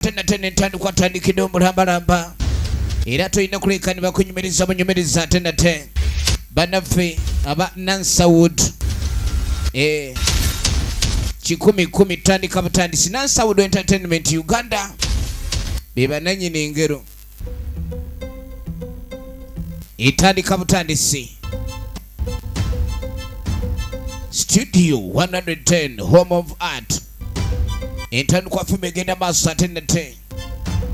tenatena entandikwa atandikidde omulambalamba era tolina kuleka ne bakunyumiriza bunyumiriza ate nate banaffe aba nansawood eh, kikumi kumi tutandika butandisi nansawood entertainment uganda bebananyini engero etandika butandisi studio 110 home of art entandikwa fimu egenda maaso ate nate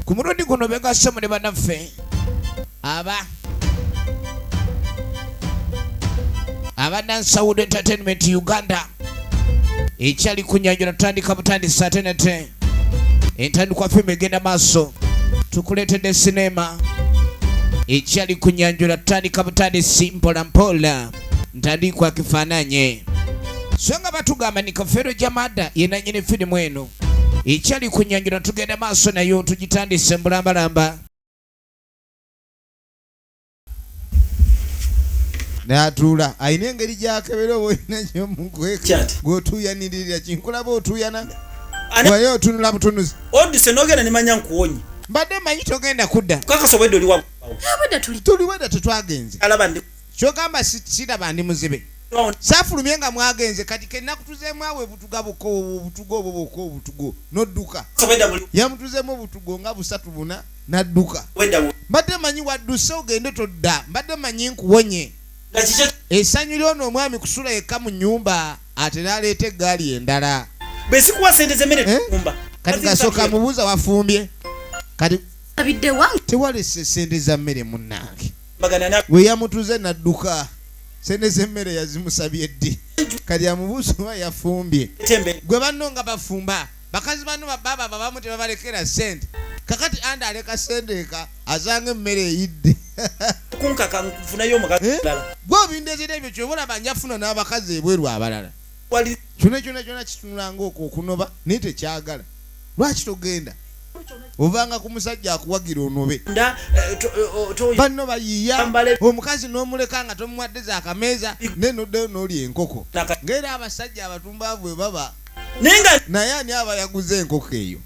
ku mulundi guno begasemu ne banaffe aba aba nansawood entertainment uganda ekyali kunyanjula tutandika butandisi ate nate entandikwa fimu egenda maaso tukuleetedde sineema ekyali kunyanjula tutandika butandisi mpola mpola ntandikwa kifaananye so nga batugamba ni kafeero jamada yenanyini firimu eno ekyali kunyanjula tugenda maaso nayo tugitandise mbulambalamba natuula alina engeri gyakebera oba olina gyomukweka gwotuuyanirira kinkulaba otuuyana waye otunula butunuzi oduse nogenda nemanya nkuwonye mbadde manyi togenda kudda kakasobwedde oliwa tuliwedde tetwagenze kyogamba siraba ndi muzibe safulumye nga mwagenze kati kenakutuzemu awo ebutuga boka obutuga obwo boka obutugo nodduka yamutuzemu obutugo nga busatu buna n'adduka mbadde manyi wadduse ogende todda mbadde manyi nkuwonye esanyu lyona omwami kusula yekka mu nyumba ate naleeta eggaali endala eh? kati gasooka mubuuza wafumbye kati tewalese sente za mmere munnange we yamutuze nadduka sente z'emmere yazimusabye ddi kati amubuuza oba yafumbye gwe banno nga bafumba bakazi bano bababa babamu tebabalekera sente kakati anda aleka sente eka azanga emmere eyidde kunkaka nfunayo omukazi eh? mulala gwe obindezera ebyo kyoba olaba njafuna n'abakazi ebweru abalala kyona kyona kyona kitunulanga okwo okunoba naye tekyagala lwaki togenda ovanga ku musajja akuwagira onobe eh, eh, banno bayiiya omukazi n'omuleka nga tomuwadde za kameeza naye noddeyo n'oli enkoko ngaera abasajja abatumbaavu bwe baba naye ani aba yaguza enkoko eyo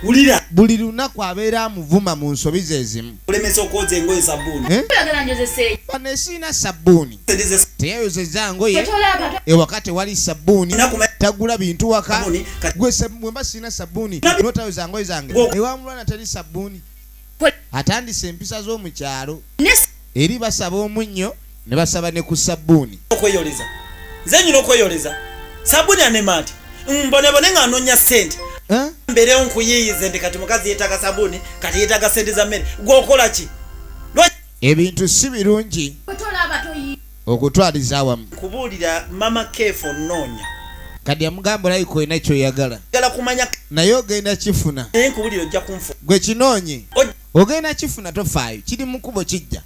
wulira buli lunaku abeera amuvuma mu nsobi zezimu olemesa okwoza engoye sabbuuni eh? bano esiina sabbuuni teyayozeza ngoye ewaka tewali sabbuuni tagula bintu waka gwemba siina sabbuuni notayoza ngoye zange ewamulwana teri sabbuuni atandise empisa z'omu kyalo eri basaba omunnyo ne basaba ne ku sabbuuni okweyoleza nze nyina okweyoleza sabbuuni anemaati mbonebone nga anonya sente mberewo nkuyiyize nti kati mukazi yetaga sabuni kati yetaga sente za mmere gwokola ki ebintu si birungi okutwaliza awamu kubuulira mama keefu onnoonya kati amugamba olabika olina kyoyagala naye ogenda kifuna gwe kinoonye ogenda kifuna tofaayo kiri mukubo kijja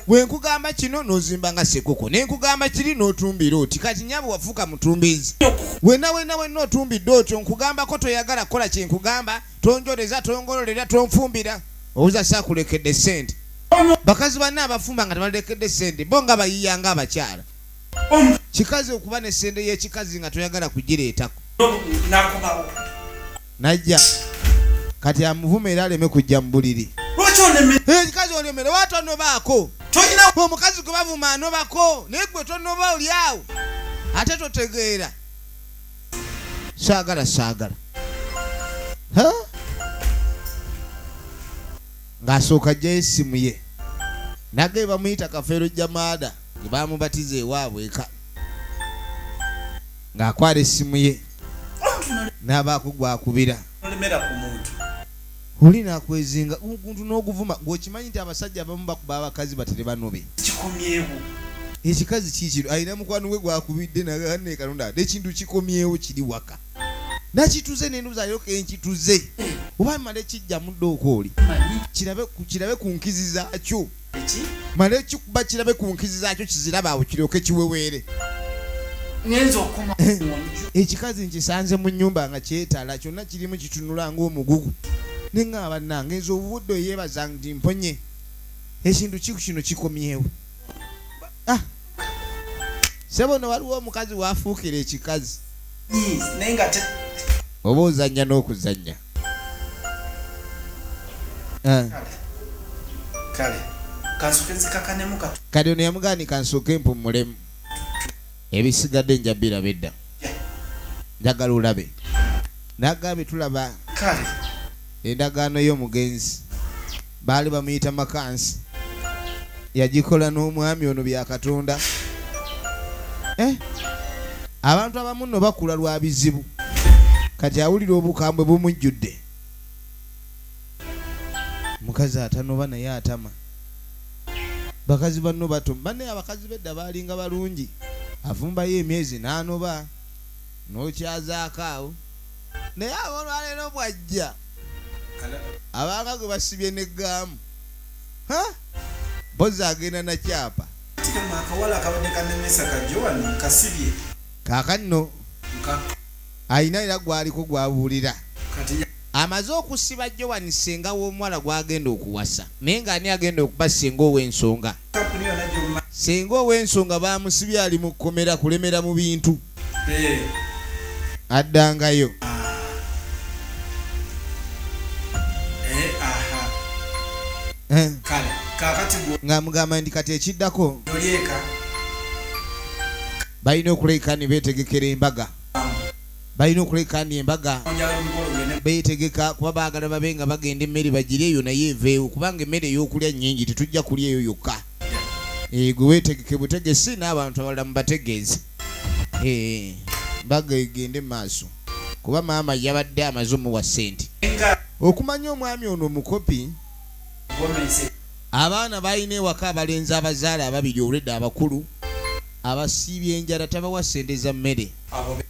bwe nkugamba kino nozimba nga sekuko ne nkugamba kiri n'otumbira oti kati nyabo wafuuka mutumbiizi wena wena wena otumbidde otyo nkugambako toyagala kukola kyenkugamba tonjoleza tongololera tonfumbira owuza sakulekedde sente bakazi banne abafumba nga tebalekedde sente bo nga bayiya nga abakyala kikazi okuba ne sente yekikazi nga toyagala kugireetako najja kati amuvuma era aleme kujja mu buliri ekikazi olemere watonobaako omukazi gwe bavuma anobako naye gwe tonoba olyawo ate totegeera saagala saagala ng'asooka ajjayo essimu ye nage bamuyita kafeero jamaada ge bamubatiza ewaabwe eka ng'akwala essimu ye n'abaakugwakubira tolemera ku muntu. Oli nakwezinga omuntu noguvuma gwe okimanyi nti abasajja abamu bakuba abakazi batere banobe. Kikomyewo. Ekikazi kikino alina mukwano gwe gwakubidde nagamba naye kalonda ate ekintu kikomyewo kiri waka nakituze nendoza lero kenkituze oba male kijja mudde okooli kirabe kirabe ku nkizi zakyo. mala ekikuba kirabe ku nkizi zaakyo kizirabe awo kiryoke kiweweere eh, ekikazi nkisanze mu nyumba nga kyetala kyonna kirimu kitunula ngaomugugu neŋŋaaba nange nze obubudde oyeebaza ndi mponye ekintu kiku kino kikomyewo ah! sebo no waliwo omukazi wafuukira ekikazi oba ozannya n'okuzannya Eh. kati ono yamugani kansooke mpumulemu ebisigadde nja biraba edda njagala olabe nagambye tulaba endagaano y'omugenzi Baali bamuyita Makansi. Yagikola n'omwami ono bya Katonda. Eh! Abantu abamu nno bakula lwa bizibu. Kati awulira obukambwe bumujjudde. Omukazi atanoba naye atama. Bakazi banno batoma. Bannaaye abakazi b'edda baalinga balungi. Afumbayo emyezi n'anoba. N'okyazaako awo. naye abolwaleero bwajja abaaka gwe basibye ne gaamu mpozi agenda nakyapa kakanno alina era gwaliko gwabuulira amaze okusiba joan senga w'omuwala gwagenda okuwasa naye nga ani agenda okuba senga ow'ensonga senga ow'ensonga bamusibye ali mu kkomera kulemera mu bintu addangayo eh. ng'amugamba nti kati ekiddako balina okuleka ne beetegekera embaga balina okuleka ni embaga beetegeka kuba baagala babe nga bagenda emmere bagire eyo naye eveewo kubanga emmere ey'okulya nnyingi tetujja kulya eyo yokka Eh, gwe wetegeke butegesi n'abantu abalala mubategeeze eh, mbaga egende maaso kuba maama yabadde amaze omuwa sente okumanya omwami ono omukopi abaana balina ewaka abalenzi abazaala ababiri olwedda abakulu abasiibye enjala tabawa sente za mmere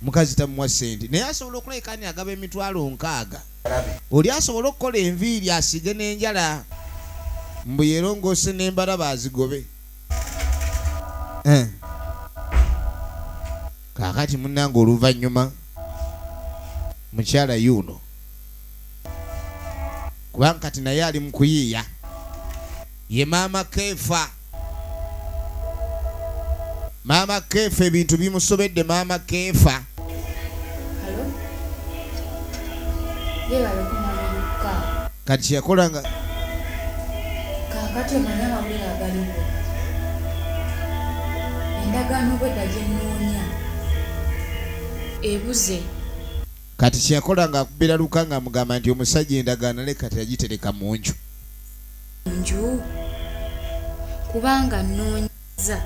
mukazi tamuwa sente naye asobola okulabika ani agaba emitwalo nkaaga Oli asobole okukola enviiri asiige n'enjala mbu yerongoose n'embalaba azigobe eh. Kaakati munnange oluvannyuma mukyala yuuno kubanga kati naye ali mu kuyiiya ye maama keefa Maama Keefa ebintu bimusobedde Maama Keefa. Kati kyeyakola nga kakati omanya amawulire agaliwo endagaano bwedda gyenoonya ebuze kati kyeyakola nga akubira luka nga amugamba nti omusajja endagaano ale kati yagitereka mu nju nju kubanga nnoonyezza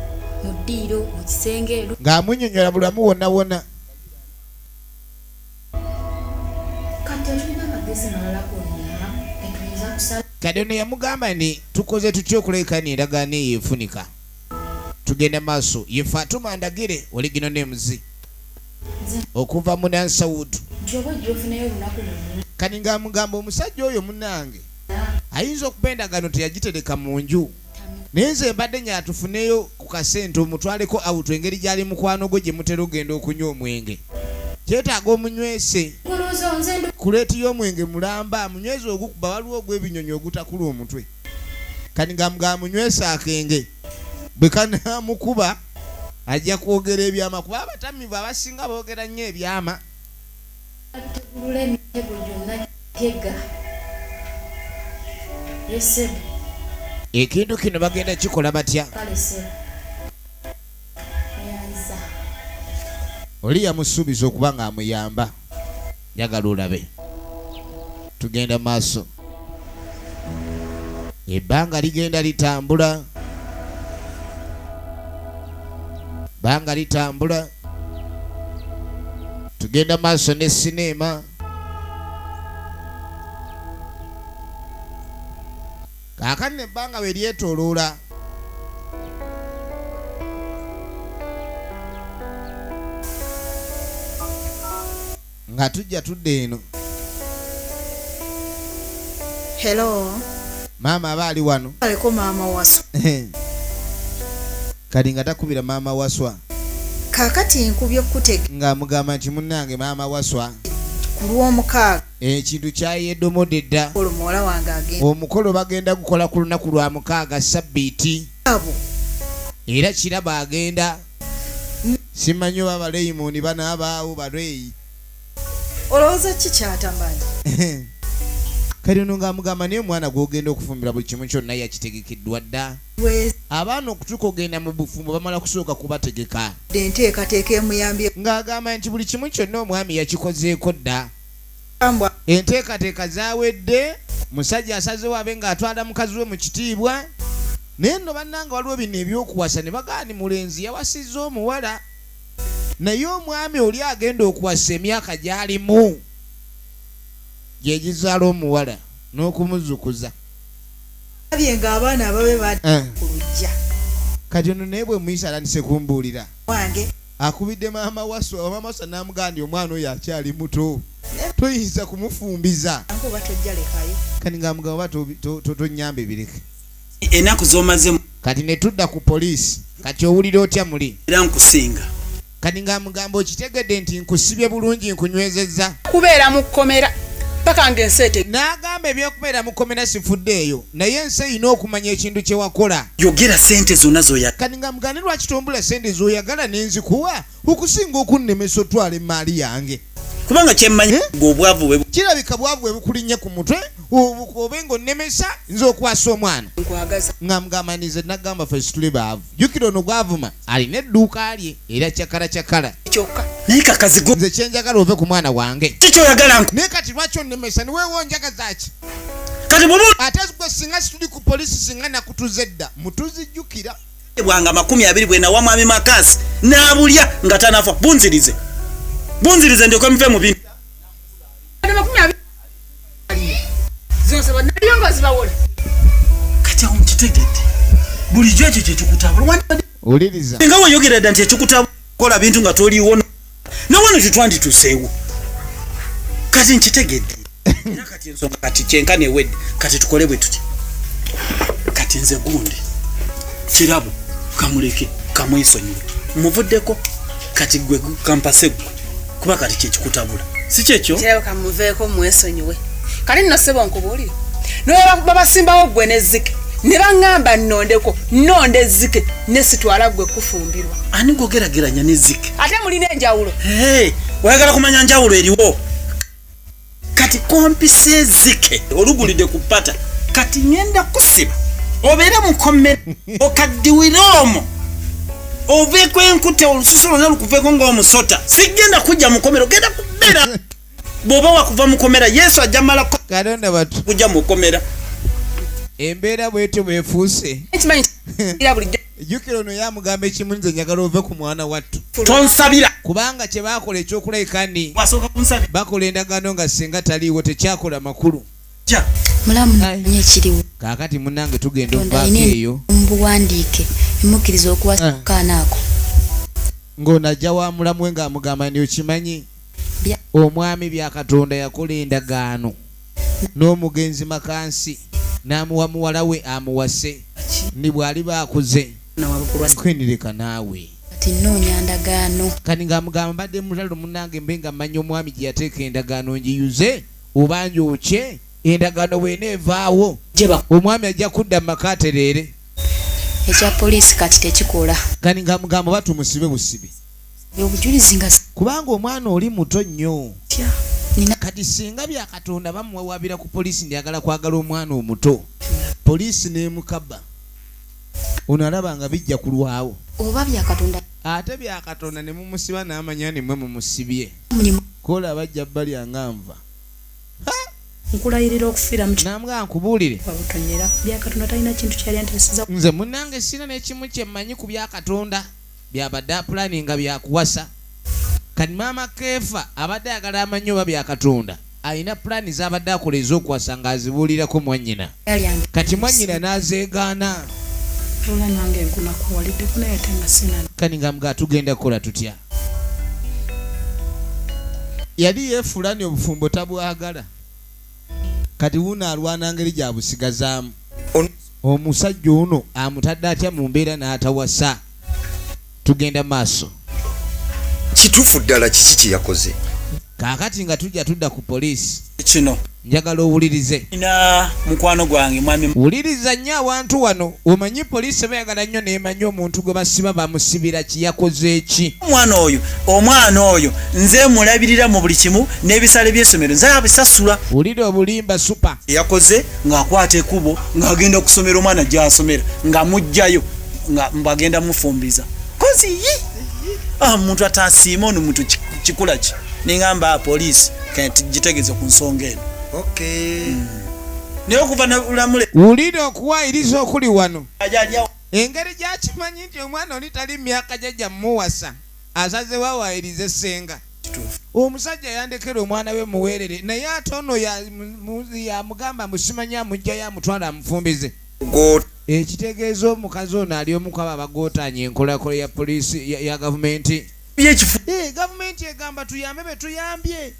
mu ddiiro, mu kisenge. Ng'amunnyonnyola buli wamu wonna wonna. Kati tetulina magezi malala gonna ge tuyinza kusala. Kati ono yamugamba nti, Tukoze tutya okulekana endagaano eyo efunika? Tugenda maaso. Ye Fatuma Ndagire, Original Names, okuva mu Nansawutu. Kati ng'amugamba omusajja oyo munnange. ayinza okuba endagano teyagitereka mu nju naye nze mbadde nya tufuneyo ku kasente omutwaleko awutu engeri gyali mukwano gwo gye mutera ogenda okunywa omwenge kyetaaga omunywese kuleeti y'omwenge mulamba amunyweze ogukuba waliwo ogw'ebinyonyi ogutakula omutwe kani nga mga amunywese akenge bwe kanamukuba ajja kwogera ebyama kuba abatamivu abasinga boogera nnyo ebyama Ategulula emitego gyonna gy'atega. Ye ssebo. Ekintu kino bagenda kikola batya? Kale ssebo. Neyanziza. Oli yamusuubiza okuba ng'amuyamba. Njagala olabe. Tugenda maaso. ebbanga ligenda litambula banga litambula tugenda maaso ne sineema kaakati nebbanga we lyetoloola nga tujja tudda eno Hello. maama aba ali wano Aleko maama wasu. kati nga takubira maama waswa Kaakati nkubye kutege ng'amugamba nti munnange maama waswa ku lw'omukaaga ekintu kyayedomode dda olwo muwala wange agenda omukolo bagenda gukola ku lunaku lwa mukaaga sabbiiti abo era kiraba agenda Simanyi oba Baleyimuuni banaabaawo, Baleeyi. Olowooza ki ky'atamanyi? Kati ono ng'amugamba naye omwana gw'ogenda okufumbirwa buli kimu kyonna yakitegekeddwa dda. Abaana okutuuka okugenda mu bufumbo bamala kusooka kubategeka. Ng'agamba nti buli kimu kyonna omwami yakikozeeko dda. Enteekateeka zawedde, musajja asazeewo abe nga atwala mukazi we mu kitiibwa. Naye nno bannange waliwo bino eby'okuwasa ne bagamba nti mulenzi yawasizza omuwala naye omwami oli agenda okuwasa emyaka gy'alimu gye gizaala omuwala n'okumuzukuza. Ndabye ng'abaana ababe badda eh. ku luggya. Kati ono naye bwe muyisa atandise kumbuulira. Wange. akubidde maama waswa maama waswa namugamba nti omwana oyo akyali muto toyinza kumufumbiza kati nga mugamba oba tonyamba ebireke enaku zomazemu kati netudda ku poliisi kati owulira otya muli era nkusinga kati nga mugamba okitegedde nti nkusibye bulungi nkunywezezza kubeera mu kkomera paka nga ensi ete n'agamba ebyokubeera mu kkomera sifudde eyo naye ensi erina okumanya ekintu kye wakola. Yogera ssente zonna z'oyagala. Kati nga mugane lwaki tombula ssente z'oyagala ne nzikuwa okusinga okunnemesa otwala emmaali yange. Kubanga kye mmanyi eh? ng'obwavu bwe. Kirabika bwavu bwe bukulinnye ku mutwe obe ng'onnemesa nze okwasa omwana. Nkwagaza. Nga mugamba nize nagamba ffe situli baavu. Jjukira ono gwavuma alina edduuka lye era cakala cakala. Kyokka naye kakazigo. Nze kye njagala ove ku mwana wange. Kiki oyagala nku. Naye kati lwaki onnemesa ne weewo njagaza ki? kati bwoba ate gwe singa situli ku polisi singa nakutuze dda mutuzijjukira bwanga makumi abiri bwenawa mwami makasi nabulya nga tanafa bunzirize bunzirize ndyoke muve mu bintu kati awo mukitegedde bulijjo ekyo kyekikutabula nga weyogera dda nti ekikutabula kola bintu nga toliwo nawano kyetwandituseewo kati nkitegedde era kati ensonga kati kyenka newedde kati tukole bwe tuti kati nze gundi kirabo kamuleke kamwesonyiwe muvuddeko kati gwe kampase gwe kuba kati kyekikutabula si kyekyo kirabo kamuveeko mwesonyiwe kati nno sebo nkubuulire nobabasimbawo gwe nezike ne baŋŋamba nnondeko nnonda ezzike ne sitwala ggwe kufumbirwa ani gwogerageranya n'ezzike ate mulina enjawulo hey, oyagala kumanya njawulo eriwo kati kompisa ezike olugulide ku pata kati ngenda kusiba obeere mukomera okaddiwire omo oveeko enkute olususu lwona lukuveko ngaomusota sigenda kujja mukomero genda kubeera bwoba wakuva mukomera yesu ajja malako katonda batu kujja mukomera embeera bwetyo bwefuuse jukira ono yamugamba ekimu nze njagala ove ku mwana wattu tonsabira kubanga kye bakola ekyokulayika ni bakola endagaano nga singa taliiwo tekyakola makulu kakati munange tugenda ovaako eyo mubuwandiike emukiriza okuwasakaanaako ah. ng'ono ajja wa mulamu we ng'amugamba ni okimanyi Omwami Byakatonda yakola endagaano n'omugenzi Makansi n'amuwa muwala we amuwase ni bw'aliba akuze kwendireka naawe kati ng'amugamba mbadde mutalo munange mbe nga mmanyi omwami gye yateeka endagaano ngiyuze oba njookye endagaano bwena evaawo omwami ajja kudda mu maka atereere ekya poliisi kati tekikola kati ng'amugamba oba tumusibe busibi kubanga omwana oli muto nnyo kati singa bya katonda bamuwawabira ku poliisi ndyagala kwagala omwana omuto poliisi nemukaba ono alaba nga bijja kulwawo oba byakatonda ate byakatonda ne mumusiba n'amanya nimwe mumusibye kola bajja balya nga nva nkulayirira okufiira namga nkubuulire nze munange sina nekimu kye mmanyi ku byakatonda byabadde apulaninga bya kuwasa. Kati maama Keefa abadde ayagala amanye oba Byakatonda alina pulaani z'abadde akola ez'okuwasa ng'azibuulirako mwannyina kati mwannyina n'azeegaana. Kani nga mga tugenda kukola tutya? Yali yeefuula ni obufumbo tabwagala. kati wuuno alwana ngeri gya busigazaamu omusajja ono amutadde atya mu mbeera n'atawasa tugenda maaso kituufu ddala kiki kye yakoze kaakati nga tujja tudda ku poliisi kino njagala owulirize na mukwano gwange mwami wuliriza nnyo awantu wano Omanyi police bayagala nnyo nemanya omuntu gwe basiba bamusibira ki yakoze ki. Omwana oyo omwana oyo nze mulabirira mu buli kimu n'ebisale by'essomero nze abisasula. Wulira obulimba super. Yakoze nga akwata ekubo nga agenda kusomera omwana gyasomera nga mujjayo nga mbagenda mufumbiza kozi yi ah, muntu atasiima ono muntu kikula ki ningamba ah, police kati gitegeze ku nsonga eno okay. mm. naye okuva nalamule wulira okuwayiriza okuli wano engeri gyakimanyi nti omwana oli tali myaka jajja muwasa asaze wawayiriza essenga omusajja yandekera omwana we muweerere naye ate ono yamugamba musimanye amugjayo amutwala amufumbize ekitegeeza omukazi ono ali omukwaba abagotanya enkolakola ya poliisi ya gavumenti eh, gavumenti egamba tuyambe betuyambye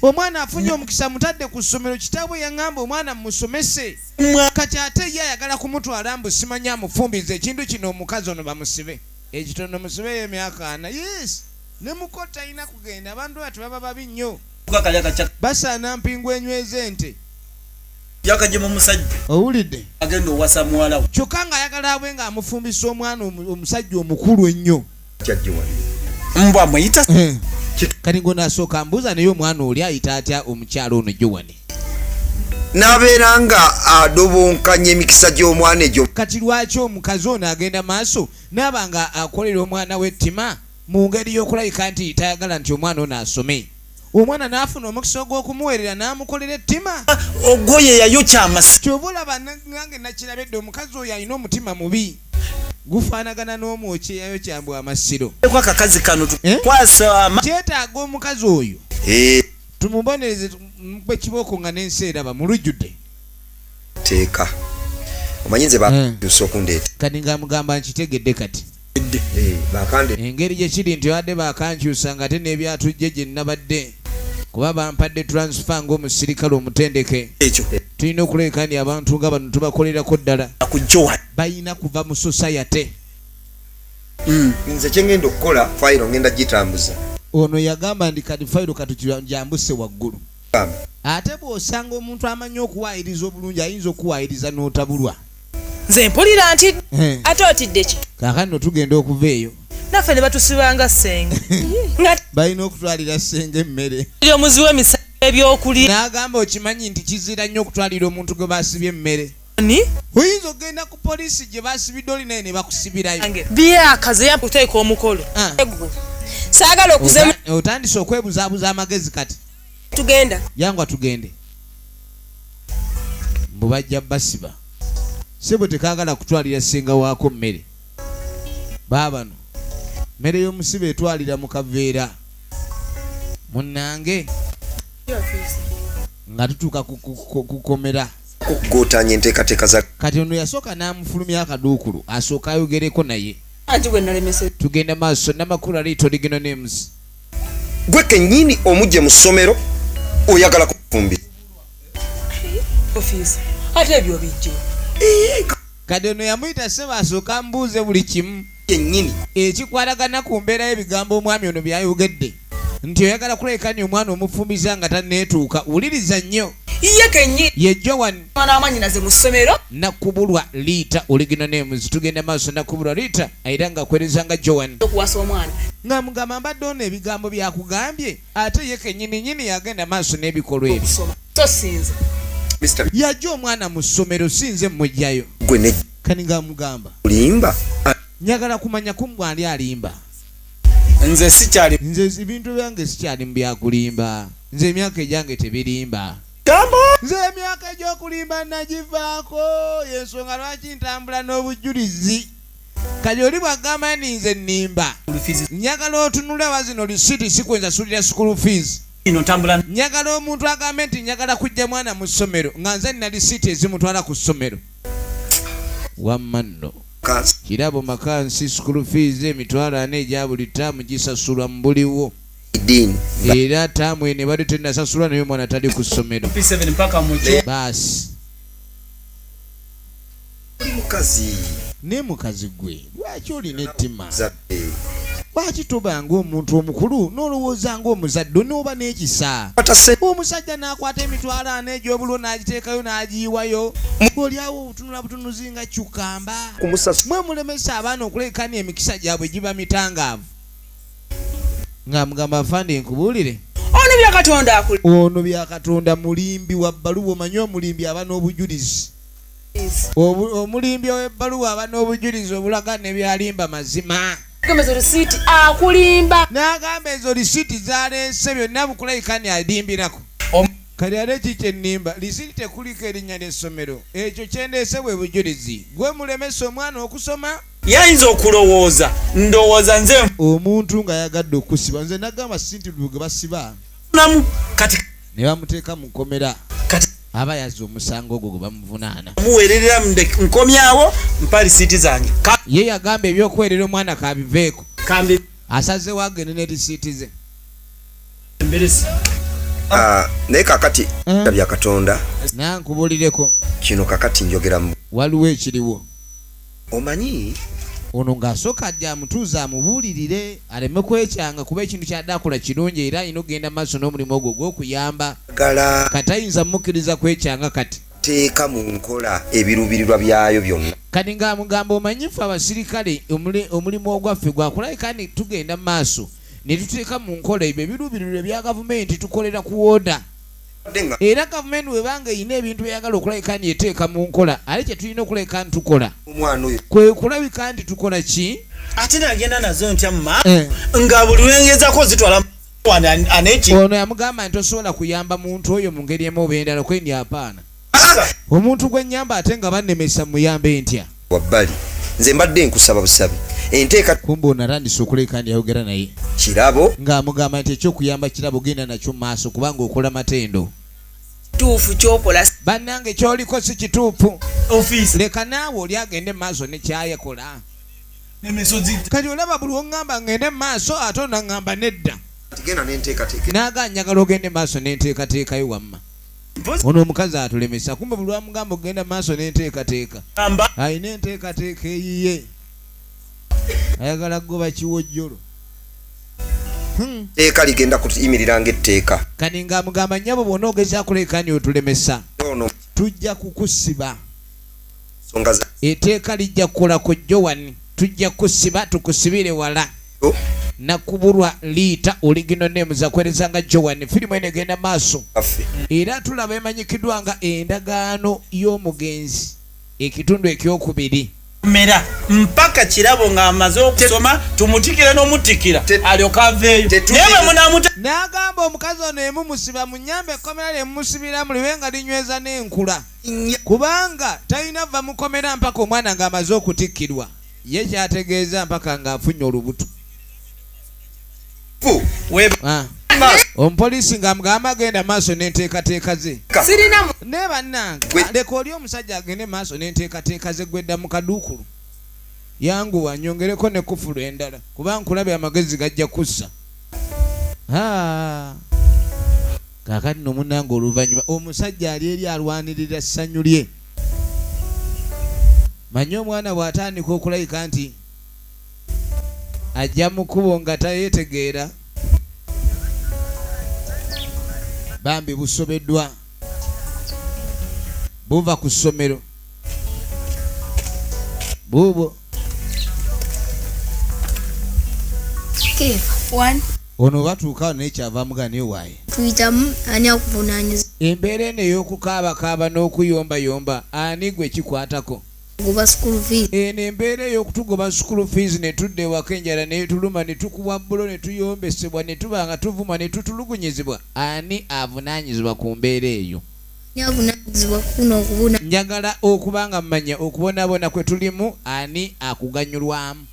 omwana afunye omukisa mutadde ku ssomero kitaabwe yaŋŋamba omwana mumusomese kati ate ye ayagala kumutwala mbu simanya amufumbiza ekintu kino omukazi ono bamusibe ekitono musibeyo emyaka ana yes ne muko talina kugenda abantu bati baba babi nnyo basaana mpingu enyweza ente yakajemu omusajja owulidde agenda owasa muwalawo kyokka ng'ayagala abwe ng'amufumbisa omwana omusajja omukulu ennyo mbwa muyita hmm. kati ngo nasooka mbuuza naye omwana oli ayita atya omukyalo ono jowani nabeera nga adobonkanya emikisa gy'omwana egyo kati lwaki omukazi ono agenda maaso naaba nga akolera omwana wettima mu ngeri y'okulabika nti tayagala nti omwana ono asome omwana n'afuna omukisa ogw'okumuweerera n'amukolera ettima ogwoye yayokya amasi kyova olaba nange nakirabedde omukazi oyo alina omutima mubi gufaanagana n'omwoki eyayokya mbu amasiro akakazi kano eh? tukwasa kyetaaga omukazi oyo eh. tumubonereze mukube kibooko nga n'ensi eraba mulujjudde teeka omanyi nze bakyusa eh. okundeeta kati nga mugamba nkitegedde kati engeri gye kiri nti badde bakankyusa nga ate n'ebyatujje gye nnabadde kuba bampadde transfer ng'omusirikale omutendeke ekyo tulina okuleekaani abantu nga bano tubakolerako ddala akujjowa balina kuva mu sosayate hmm. nze kyengenda okukola fayiro ngenda gitambuza ono yagamba ndi kati fayiro katukijambuse waggulu ate bw'osanga omuntu amanyi okuwaayiriza obulungi ayinza okuwaayiriza n'otabulwa nze mpulira nti eh. ate otiddeki kakati no tugenda okuva eyo naffe ne batusibanga senge balina okutwalira senge emmere omuzi wemisa ebyokulya n'agamba okimanyi nti kizira nnyo okutwalira omuntu gwe basibye emmere oyinza okugenda ku poliisi gye basibidde oli naye ne bakusibirayo byakaze yakuteeka omukolo ah. saagala okuza otandise okwebuzabuza amagezi kati tugenda yangwa tugende mbu bajja basiba sebo tekagala kutwalira senga waako mmere baabano mmere y'omusiba etwalira mu kaveera munnange nga tutuuka kukomera kukugotanya enteekateeka za kati ono yasooka n'amufulumya akaduukulu asooka ayogereko naye tugenda maaso namakulu ali toliginal names gwe kenyini omujje mu ssomero oyagala kufumbi ate ebyo bijje kati ono yamuyita sebo asooka mbuuze buli kimu kenyini ekikwatagana ku mbeera y'ebigambo omwami ono byayogedde nti oyagala kulekani omwana omufumbiza nga taneetuuka wuliriza nnyo ye kenyini ye joan namwanyinaze mu ssomero nakubulwa liita oligina nemuzi tugenda maaso nakubulwa liita era nga kwereza nga joan okuwasa omwana nga mugamba mbadde ono ebigambo byakugambye ate ye kenyini nyini yagenda maaso n'ebikolwa ebyo tosinza yajja omwana mu ssomero sinze mujjayo kani nga mugamba olimba njagala kumanya kumbwali alimba nze sikyali nze ebintu byange sikyali mu byakulimba nze emyaka egyange tebirimba nze emyaka egy'okulimba nagivaako yensonga lwaki ntambula n'obujjulizi kati oli bwagamba ni nze nnimba njagala otunula wa zino lisiti sikwenzasulira school fees njagala omuntu agambe nti njagala kujja mwana mu ssomero nga nze nina lisiti ezimutwala ku ssomero wamma nno kirabo maka nsi school fees emitwalo ana egya buli taamu gisasulwa mu buliwo din era tamu ene bali tenasasula naye omwana tali ku ssomero baasi naye mukazi gwe lwaki olina ettima lwaki toba ngaomuntu omukulu nolowooza ngaomuzadde nooba n'ekisa omusajja n'akwata emitwalo ana egy'obulo n'agiteekayo n'agiyiwayo olyawo obutunula butunuzi nga kyukamba mwe mulemesa abaana okulekani emikisa gyabwe giba mitangaavu nga mugamba afande nkubuulire ono byakatonda akul ono byakatonda mulimbi wa bbaluwa omanyi omulimbi aba n'obujulizi omulimbi ow'ebbaluwa aba n'obujulizi obulaga ne byalimba mazima akulimba n'agamba ezo lisiiti zaleese byonna bukulayikani alimbirako kati ate ki kyennimba lisiiti tekuliko erinnya ly'essomero ekyo kyendeese bwe bujulizi gwe mulemesa omwana okusoma yayinza okulowooza ndowooza nze omuntu nga yagadde okusiba nze nagamba sintibu ge basiba namu kati ne bamuteeka mu nkomera kati aba yazza omusango ogwo gwe bamuvunaana muweererera nkomyawo mpa lisiiti zange ye yagamba ebyokuweerera omwana kabiveeko kambi asazewo agende ne lisiiti ze ah, naye kakati eh. bya katonda nankubulireko kino kakati njogeramu waliwo ekiriwo Omanyi? Ono ng'asooka ajja amutuuze amubuulirire aleme kwekyanga kuba ekintu ky'adde akola kirungi era alina okugenda maaso n'omulimu ogwo ogw'okuyamba. Kati tayinza mukkiriza kwekyanga kati. Teeka mu nkola ebiruubirirwa byayo byonna. Kati ng'amugamba, Omanyi ffe abasirikale omulimu ogwaffe gwa kulabika nti tugenda mu maaso ne tuteeka mu nkola ebyo ebiruubirirwa ebya gavumenti. Tukolera ku wooda. era gavumenti weba nga erina ebintu byeyagala okulabika nti eteeka mu nkola ale kyetulina okulabika nti tukola kwe kulabika nti tukola ki ate nagenda nazo ntya muma eh. nga buli lwengezako zitwala ono yamugamba nti tosobola kuyamba muntu oyo mu ngeri emu oba endala kwendi apaana omuntu gwe nyamba ate nga bannemesa muyambe ntya wabbali nze mbadde nkusaba busabi enteeka kumba ono atandise okuleeka ndi ayogera naye kirabo ng'amugamba nti ekyokuyamba kirabo genda nakyo mu maaso kubanga okola matendo kituufu kyokola bannange kyoliko si kituufu leka naawe oli agende mu maaso nekyayakola kati olaba buli oŋŋamba ŋŋende mu maaso ate onaŋŋamba nedda naga njagala ogende mu maaso n'enteekateekayo wamma ono omukazi atulemesa kumbe buli wamugamba okugenda maaso n'enteekateeka alina enteekateeka eyiye ayagala kugoba kiwojjolo hmm. teeka ligenda kuyimirira ngaetteeka kani nga amugamba nyabo bwona ogezakuleekani otulemesa tujja kukusiba eteeka lijja kukola ku jowani tujja kusiba tukusibire wala nakubulwa liita oligino name zakwereza nga joan firimu eno egenda maaso era tulaba emanyikiddwa nga endagaano y'omugenzi ekitundu ekyokubiri mera mpaka kirabo nga amaze okusoma tumutikire nomutikira alyoka aveeyo naye bwe munamuta n'agamba omukazi ono emu musiba munyambe ekkomera lye mumusibiramu libe nga linyweza n'enkula kubanga talina va mukomera mpaka omwana ng'amaze okutikkirwa Ye kyategeeza mpaka nga afunye olubuto. Ah. Omupoliisi nga amugamba agenda maaso n'enteekateeka ze. Naye bannange leka oli omusajja agende maaso n'enteekateeka ze gwedda mu kaduukulu. Yanguwa nyongereko ne kufulu endala kuba nkulabye amagezi gajja kussa. Ah. Kaakati no munnange oluvannyuma omusajja ali eri alwanirira ssanyu lye. manyi omwana bw'atandika okulayika nti ajja mu kkubo nga tayetegeera bambi busobeddwa buva ku ssomero buubwo ono batuuka naye kyava muga naye waaye tuyitamu ani akuvunaanyiza embeera eno ey'okukaabakaaba n'okuyombayomba ani gwe kikwatako goba school fees eno embeera ey'okutugoba school fees ne tudda ewaka enjala netuluma ne tukubwa bbulo ne tuyombesebwa ne tuba nga tuvuma ne tutulugunyizibwa ani avunaanyizibwa ku mbeera eyo njagala okuba nga mmanya okubonaabona kwe tulimu ani akuganyulwamu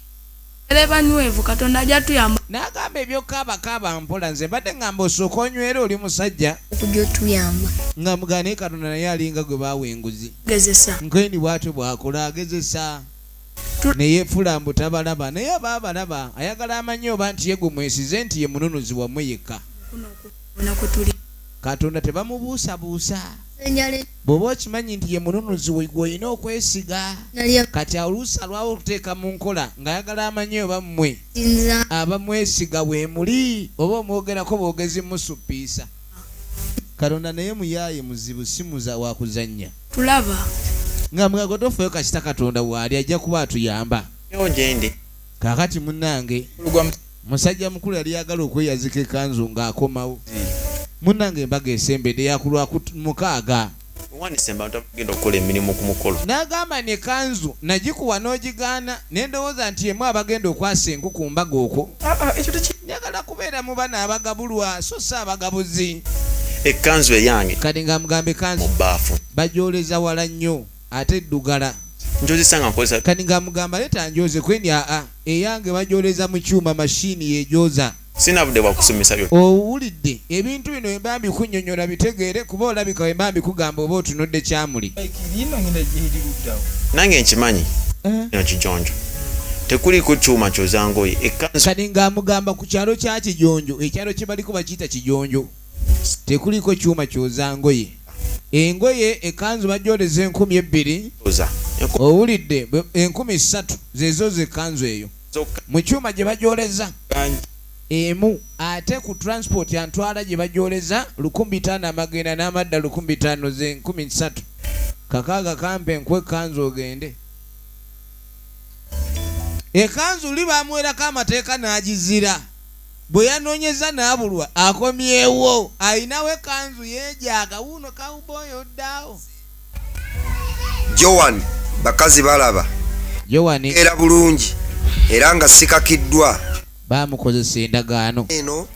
n'agamba ebyokukaabakaaba mpola nze mbadde ngamba osooka onywera oli musajja nga mugane katonda naye alinga gwe baawa enguzi nkeni bwatyo bwakola agezesa neyefula mbu tabalaba naye aba abalaba ayagala amanye oba nti yegumwesize nti ye mununuzi wamwe yekka katonda tebamubuusabuusa bw'oba okimanyi nti ye mununuzi gwolina okwesiga kati oluusi alwawo okuteeka mu nkola ng'ayagala amanye oba mmwe abamwesiga weemuli oba omwogerako bwogezi musuppiisa katonda naye muyaaye muzibu simuza wakuzannya tulaba nga mwegotofeyo kasita katonda waali ajja kuba atuyamba kakati munange musajja mukulu yali yagala okweyazika ekanzu nga akomawo munange embaga esembede yakulwa mukaaga nagamba ne kanzu nagikuwa nogigaana nendowooza nti emu abagenda okwasa enku ku mbaga okwo ah, ah, njagala kubeera mu bana abagabulwa so si abagabuzi ekanzu eyange kati nga mugamba ekanzu bajoleza wala nnyo ate ddugala. Njozesa nga nkozesa. Kati nga mugamba leta njoze kweni aa eyange bajoleza mu kyuma machine yejoza. Sirina budde bwa kusomesa byonna. Owulidde? Ebintu bino wemba mbikunyonyola bitegeere kuba olabika wemba mbikugamba oba otunudde kyamuli. Nange nkimanyi eh? kino kijonjo tekuliko kyuma kyoza ngoye. Kati nga mugamba ku kyalo kya kijonjo, ekyalo kyebaliko bakiyita kijonjo. tekuliko kyuma kyoza ngoye engoye ekanzu bajoleza enkumi ebbiri owulidde enkumi ssatu zezoza ekanzu eyo mu kyuma gye bajoleza emu ate ku transport antwala gye bajoleza lukumi bitaano amagenda n'amadda lukumi bitaano ze nkumi ssatu kakaaga kampe nku ekanzu ogende ekanzu li bamuwerako amateeka n'agizira bwe yanoonyezza n'abulwa akomyewo alinawo ekkanzu yeejaaga wuuno kawubooyi oddaawo. Joan bakazi balaba era bulungi era nga sikakiddwa baamukozesa endagaano eno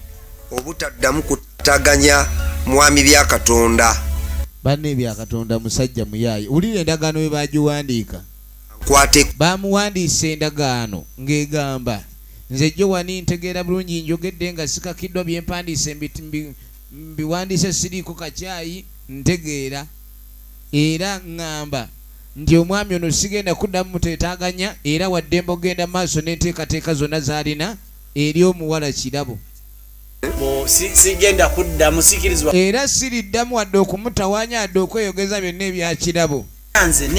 obutaddamu kutaganya mwami bya Katonda. Banne ebya Katonda musajja muyaaye wulira endagaano bwe baagiwandiika. Baamuwandiisa endagaano ng'egamba. Nze Joan ntegeera bulungi njogedde nga sikakiddwa bye mpandiise mbiwandiise siriiko kacaayi ntegeera era ng'amba nti omwami ono sigenda kuddamu mutetaaganya era waddembe okugenda maaso n'enteekateeka zonna z'alina eri omuwala Kirabo. Era siriddamu wadde okumutawaanya yadde okweyogeza byonna ebya Kirabo.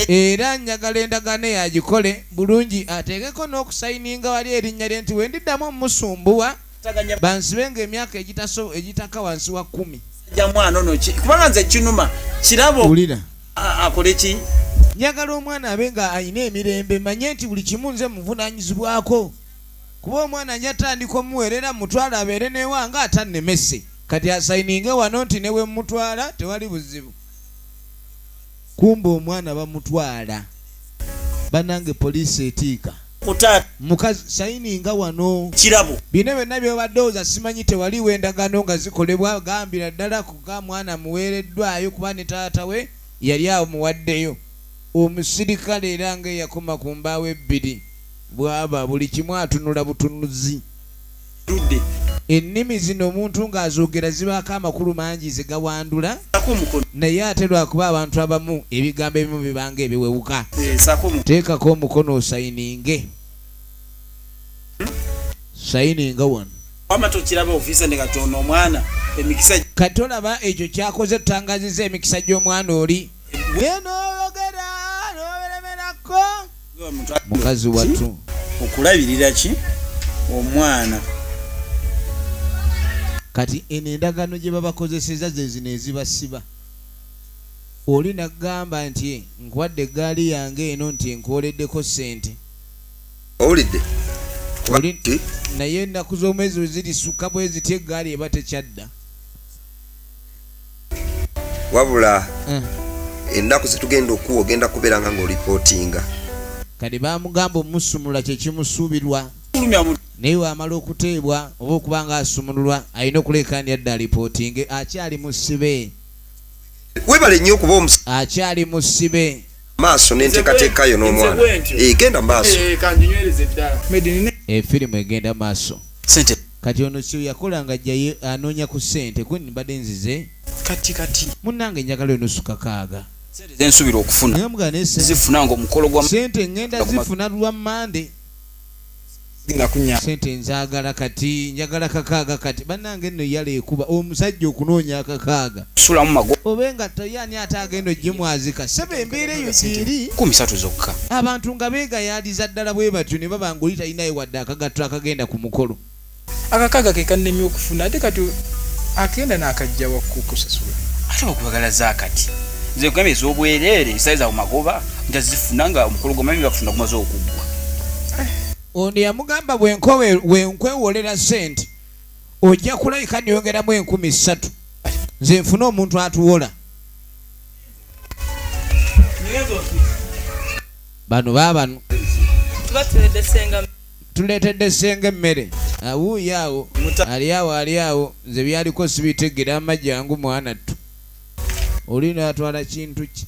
era njagala endagaano eyo agikole bulungi ateekeko n'okusayininga wali erinnya lye nti bwe ndiddamu omusumbuwa bansibe nga emyaka egitaka wansi wa kkumi kubanga nze kinuma kirabo wulira akole ki njagala omwana abe nga alina emirembe manye nti buli kimu nze muvunanyizibwako kuba omwana njatandika omuweerera mutwala abeere newanga atannemese kati asayininge wano nti newemutwala tewali buzibu kumbe omwana bamutwala banange police etiika mukazi sayininga wano kirabo bino byonna byobadde oza simanyi tewaliwo endagaano nga zikolebwa gambira ddala kuga mwana muweereddwayo kuba ne taata we yali awo muwaddeyo omusirikale era nga eyakoma ku mbaawo ebbiri bwaba buli kimu atunula butunuzi Ludde. Ennimi zino omuntu ng'azoogera zibaako amakulu mangi ze gawandula naye ate lwakuba abantu abamu ebigambo ebimu bibanga ebiwewuka eh, teekako omukono osayininge sayininga wano kati olaba ekyo kyakoze tutangaziza emikisa gy'omwana oli eh, mukazi wattu okulabirira ki omwana kati eno endagaano gye babakozeseza zezino ezibasiba oli nagamba nti nkwadde eggaali yange eno nti enkwoleddeko ssente owulidde naye ennaku z'omwezi wezirisukka bwezitya eggaali eba tekyadda wabula mm. ennaku zetugenda okuwa ogenda kubeera nga ngaolipootinga kati bamugamba omusumula kyekimusuubirwa naye wamala okuteebwa oba okuba nga asumululwa alina okuleekaani adda alipootinge akyali musibe webale nnyo okuba omus akyali musibe maaso n'enteekateeka yo n'omwana egenda eh, maaso efirimu eh, eh, egenda maaso Kati ono sir yakola nga ajja ye anonya ku sente gwe mbade nzize kati kati. Munange njagala oyo nusu kakaaga. Sente zensubira okufuna Ngamugana naye sente zifuna nga omukolo gwa Sente ngenda zifuna lwa Monday. genda kunya. Sente nzagala kati njagala kakaaga kati banange enno yala ekuba omusajja okunoonya akakaaga. sulamu mago. Oba engatto ye ani ate agenda ojjimwazika sebo embeera eyo gyeri. Kumi satu zokka. Abantu nga begayaaliza ddala bwebatyo nebaba nga oli talinayo wadde akagatto akagenda ku mukolo. Akakaaga ke kannemye okufuna ate kati akenda nakajjawa ku kusasula. Ate bakubagala zakati nze nkugambye ezobwerere esale zawe magoba ntazifuna nga omukolo gwamanyi bakufuna gumaze okuggwa. Ono yamugamba bwenkwewolela sente. ojja kulabika neyongeramu enkumi ssatu nze nfune omuntu atuwola bano babano tuletedde senga emmere awuuyo awo ali awo ali awo nze byaliko sibitegera amajangu mwana ttu oli no yatwala kintu ki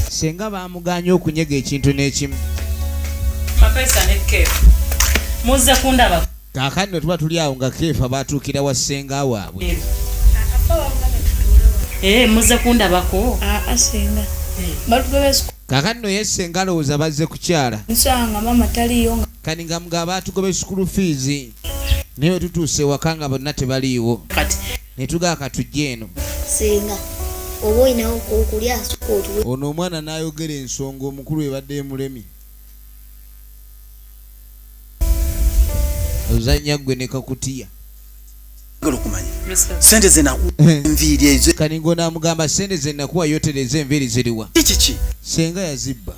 senga bamuganye okunyega ekintu n'ekimu muzze kundaba kakani netuba tuli awo nga keefa batuukira wa senga waabwe eh, eh, muzze kundabako ah, ah, eh. kakani noye senga alowooza bazze kukyala kani nga mugaba batugobe sukulu fiizi naye wetutuuse ewaka nga bonna tebaliiwo netugaaka tujje eno senga oba olinawo kokulya asuka otuwe ono omwana nayogera ensonga omukulu ebadde emulemi ozanya gwe ne kakutiya kaningo namugamba sente zenakuwa yotereza enviiri ziriwa senga yazibba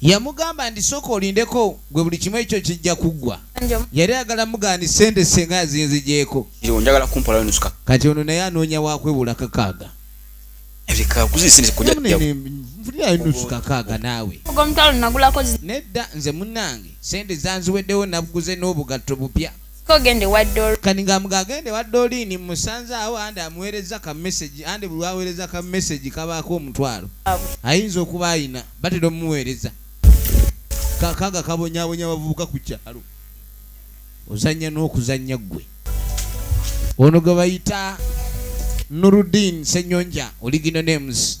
yamugamba ndi soka olindeko gwe buli kimu ekyo kijja kuggwa yali ayagala mugandi sente senga yazinzigyeko kati ono naye anoonya wakwewula kakaaga nusu kakaaga naawe nedda nze munange sente zanziweddewo nabuguze n'obugatto bupya Ko gende wa Doreen. Kani nga mga agende wa Doreen musanze awo andi amuwereza ka message andi buli wawereza ka message kabaako omutwalo. Ayinza okuba ayina batera omuweereza. Kakaga kabonyabonya bavubuka ku kyalo. Ozanya n'okuzanya gwe. Ono gwe bayita Nuruddin Senyonja oligino names.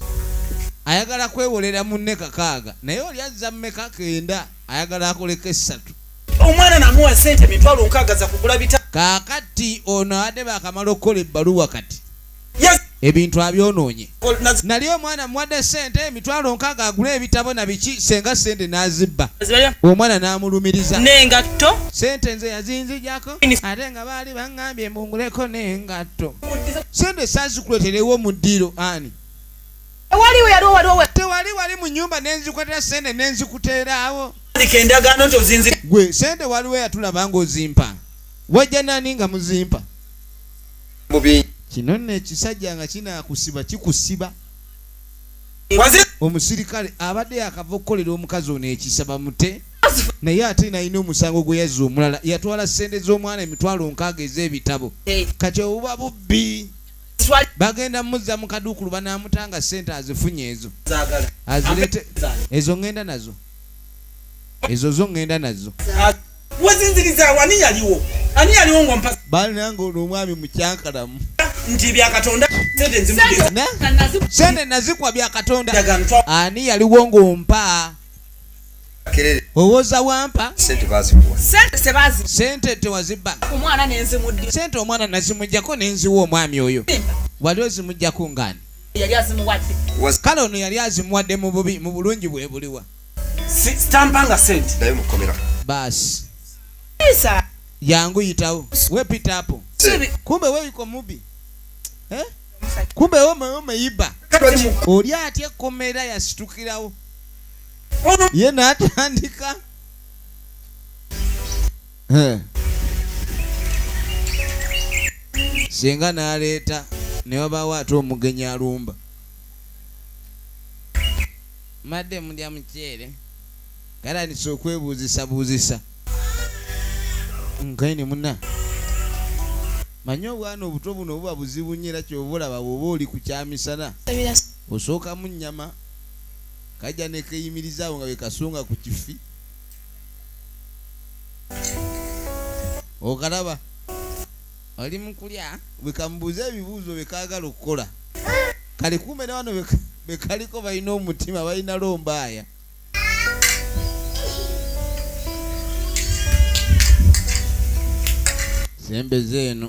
Ayagala kwewolera munne kakaaga naye oli azza mmeka kenda. ayagala akoleko essatu omwana namuwa sente mitwalo nkaaga za kugula bita kakati ono ade bakamala okukola ebbaluwa kati ebintu abyonoonye nali omwana muwadde sente emitwalo nkaaga agula ebitabo na biki senga sente n'azibba omwana n'amulumiriza nengatto sente nze yazinzijako ate nga baali baŋŋambye mbunguleko nengatto sente sazikuleterewo mu ddiiro ani tewaliwo yaliwo waliwo tewali wali mu nyumba nenzikwatira sente nenzikuteeraawo andika endagaano nti ozinzi gwe sente waliwo yatulaba nga ozimpa wajja nani nga muzimpa mubi kino nno ekisajja nga kinakusiba kikusiba omusirikale abadde yakava okukolera omukazi ono ekisa bamute naye ate nalina omusango gwe yazza omulala yatwala sente z'omwana emitwalo nkaaga ez'ebitabo kati obuba bubbi bagenda muzza mu kaduukulu banaamuta nga ssente azifunye ezo azirete ezo ŋŋenda nazo ezo zo ŋŋenda nazo wezinziriza wani yaliwo ani yaliwo ngompa bali nange ono omwami mukyankalamu nti byakatonda sente nazikwa byakatonda ani yaliwo ngompa owoza wampa sente tewazibba sente omwana nazimujjako nenziwa omwami oyo wali ozimujjako ngaani kale ono yali azimuwadde mu bubi mu bulungi bwe buliwa sitampanga sente naye mukomera baasi yangu yitawo wepitapo kumbe weyiko mubi eh? kumbe omeyiba oli atya ekkomera yasitukirawo ye n'atandika singa n'aleeta ne wabaawo ate omugenyi alumba mbadde mulya muceere galanisa okwebuuzisabuuzisa nkaine muna manye obwana obuto buno buba buzibu nyo era kyoba olaba bwoba oli ku kyamisana osookamu nyama kajja nekeyimiriza awo nga wekasunga ku kifi okalaba oli mukulya bwekamubuuza ebibuuzo bekaagala okukola kale kumbe newano bekaliko balina omutima balina lombaaya sembeza eno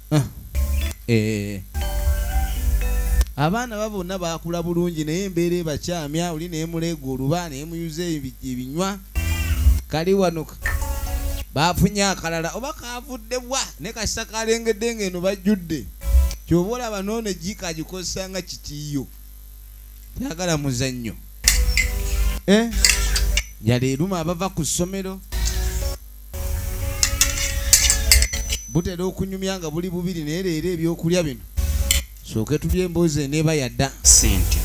ah. eh. abaana ba bonna bakula bulungi naye embeera ebakyamya oli naye muleega oluba naye muyuza ebinywa kali wano bafunye akalala oba kavudde bwa ne kasita kalengedde nga eno bajjudde kyoba olaba noone jiika agikozesa nga kikiiyo tayagala muzannyo eh? yaleeruma abava ku ssomero butera okunyumya nga buli bubiri naye leero ebyokulya bino sooke tulya emboozi eneeba yadda sente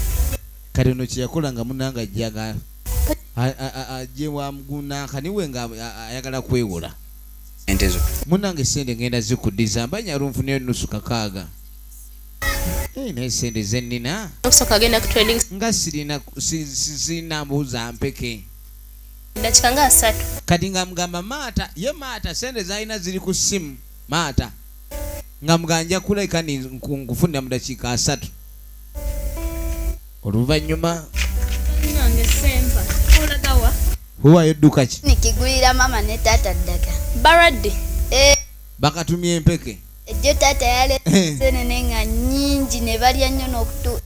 kati ono kyeyakola nga munanga ajjaga ajje wamugunankaniwe nga ayagala kwewola munange sente ngenda zikudiza mbanya lunfuna enusu kakaaga naye sente zenina nga sirina mbuuza mpeke dakika nga asatu kati nga mugamba maata ye maata sente zalina ziri ku simu maata nga mugamba nja kuleka nkufunira mu dakiika asatu oluvanyuma huwayo ddukaki nikigulira mama ne taata ddaga baradde eh. bakatumya empeke ejjo taata yalesenene nga nyingi ne balya nnyo n'okutu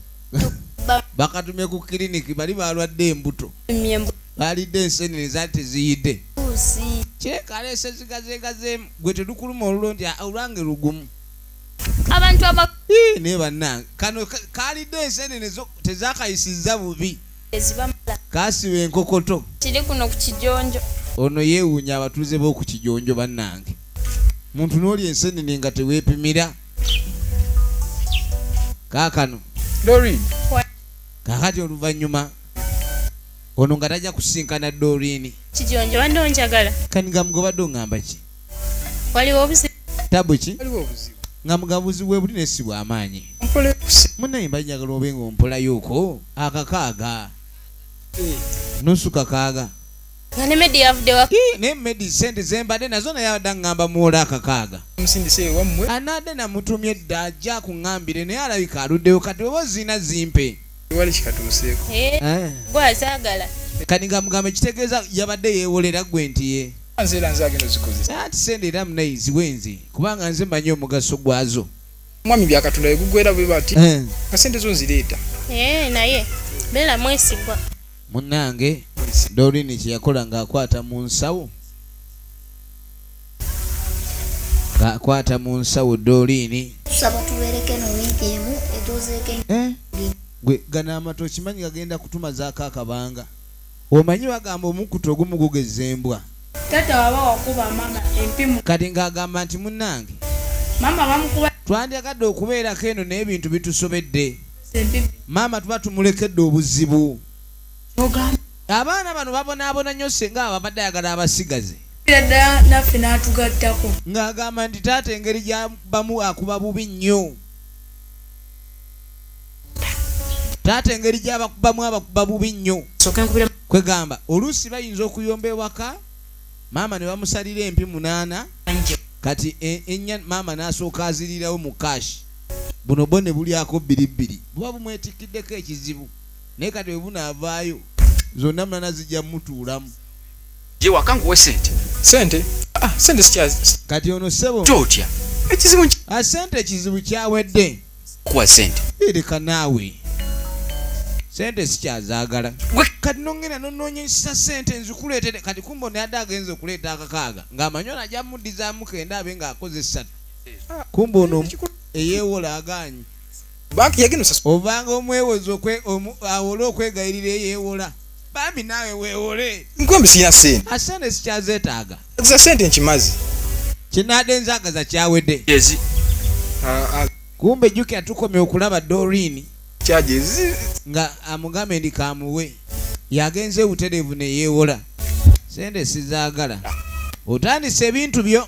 bakatumye ku kiriniki bali balwadde embuto balidde ensenene zali teziyidde kyekaleese zigazegazeemu gwe tedukuluma olulo nti olwange lugumu abantu aba naye bannange kano kalidde ensenene tezakayisizza bubi kasiba enkokoto kiri kuno ku kijonjo ono yeewuunya abatuuze b'oku kijonjo bannange muntu n'oli ensenene nga teweepimira kaakano dorin kakati oluvannyuma ono nga tajja kusinkana dorini kijonjo bande onjagala kanigambga obadde ongamba ki waliwo obuzibu tabu ki nga mugabuzi webuli nesi bwamaanyi munaye mba njagala obe nga ompolayoko akakaaga eh. nusu kakaaga nga ne medi yavudde wa naye medi sente zembadde nazo naye adda ngamba muwola akakaaga musindise ewammwe anaadde namutumye edda ajja kuŋambire naye alabika aluddewo kati oba ozina zimpe wali kikatuuseeko eh, eh. gwazagala kati nga mugamba ekitegeeza yabadde yewolera gwe nti ye nze era nze agenda ozikozesa ati sente era munayi ziwe nze kubanga nze manyi omugaso gwazo omwami byakatonda yegugwera bwe bati eh. kasente zo nzireeta naye beera mwesigwa Munnange Doreen kye yakola ng'akwata mu nsawo ng'akwata mu nsawo Doreen eh? gwe gano amata okimanyi gagenda kutumazaako akabanga omanyi bagamba omukutu ogumu gugeza embwa kati ng'agamba nti munnange twandyagadde okubeerako eno naye ebintu bitusobedde maama tuba tumulekedde obuzibu abaana bano babonaabona nnyo senga ababadde ayagala abasigaze ddala naffe n'atugattako ng'agamba nti taata engeri gyabamu akuba bubi nnyo taata engeri gyabakubamu abakuba bubi nnyo kwegamba oluusi bayinza okuyomba ewaka maama ne bamusalira empi munaana kati e, enya maama n'asooka azirirawo mu kashi buno bwo ne bulyako bbiri bbiri buba bumwetikkiddeko ekizibu naye kati bwe bunaavaayo zonna mulana zijja mutuulamu ye waka nkuwe sente sente ah, sente sikya kati ono sebo totya ekizibu ah, sente ekizibu kyawedde kuwa sente ereka naawe sente sikyazaagala gwe kati nongenda nonoonyesa sente nzikuleetere kati kumba onayadde agenza okuleeta akakaaga ng'amanyi onajja muddizamu kenda abe ng'akoze essatu kumbe ono eyewola aganyi banki yagenda osasula ovanga omwewozi awole okwegayirira eyewola bambi naawe wewole nkwembi sirina sente asente sikyazetaaga za sente nkimazi kinade enzagaza kyawedde kumbe jukira tukomye okulaba dorini nga amugambe ndi kamuwe yagenze butereevu neyewola sente sizagala otandise ebintu byo